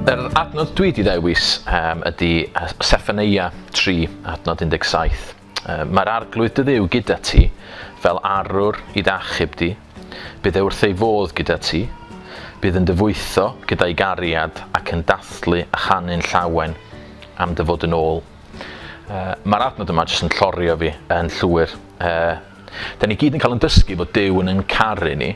Yr adnod dwi wedi dewis um, ydy Seffaneia 3, adnod 17. Um, Mae'r arglwydd dy ddew gyda ti, fel arwr i ddachub di. Bydd e wrth ei fodd gyda ti. Bydd yn dyfwytho gyda'i gariad ac yn dathlu a chanu'n llawen am dy fod yn ôl. Uh, Mae'r adnod yma jyst yn llorio fi yn llwyr. Uh, da ni gyd yn cael yn dysgu bod Dyw yn yn caru ni,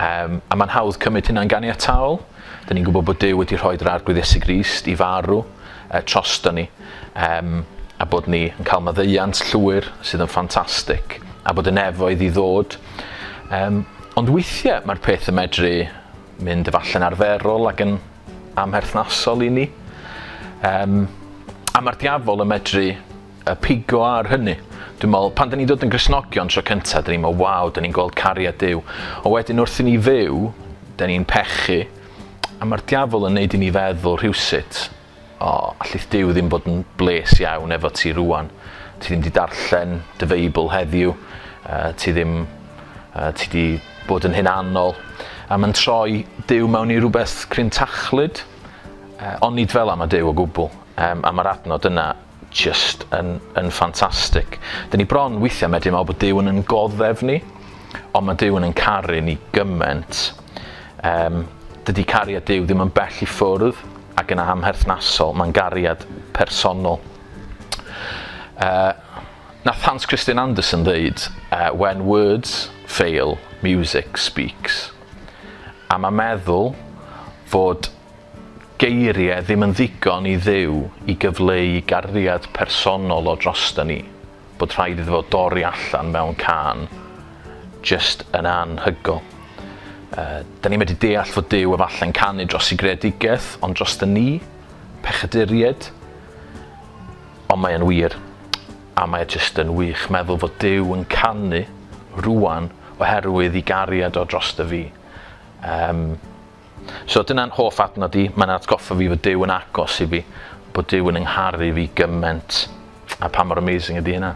um, a mae'n hawdd cymryd hynna'n ganiataol. Da ni'n gwybod bod Dyw wedi rhoi yr arglwydd Iesu Grist i farw uh, trosto ni, um, a bod ni yn cael maddeiant llwyr sydd yn ffantastig, a bod yn efoedd i ddod. Um, ond weithiau mae'r peth yn medru mynd efalle'n arferol ac yn amherthnasol i ni. Um, a mae'r diafol yn medru y pigo ar hynny. Dwi'n meddwl, pan dyn ni'n dod yn grisnogion tro cyntaf, dyn ni'n meddwl, waw, dyn ni'n gweld cariad Dyw. O wedyn wrth i ni fyw, dyn ni'n pechu, a mae'r diafol yn neud i ni feddwl rhywsut O, allith Duw ddim bod yn bles iawn efo ti rŵan. Ti ddim di darllen dy Feibl heddiw. Uh, ti ddim... Uh, ti di bod yn hunanol. A mae'n troi Duw mewn i rhywbeth cryn tachlyd. Uh, onid fel am a Duw o gwbl. Um, a mae'r adnod yna jyst yn yn ffantastig. Dyn ni bron weithiau medru meddwl bod Duw yn yn goddef ni, ond mae Duw yn yn caru ni gymaint. Um, dydy cariad Duw ddim yn bell i ffwrdd ac yn amherthnasol, mae'n gariad personol. Uh, na Hans Christian Andersen ddeud, uh, when words fail, music speaks. A mae meddwl fod Geirie ddim yn ddigon i Dduw i gyfleu gariad personol o drosta ni, bod rhaid iddo fo dorri allan mewn cân, jyst yn anhygol. Yy, da ni medru deall fod Duw efalle'n canu dros i greadigaeth, ond drosta ni, pechaduried? Ond mae yn wir, a mae jyst yn wych meddwl fod Duw yn canu rwan oherwydd i gariad o drosta fi. Yym. So dyna'n hoff adnod i, mae'n atgoffa fi fod Duw yn agos i fi, bod Duw yn yngharu fi gyment, a pa mor amazing ydy hynna.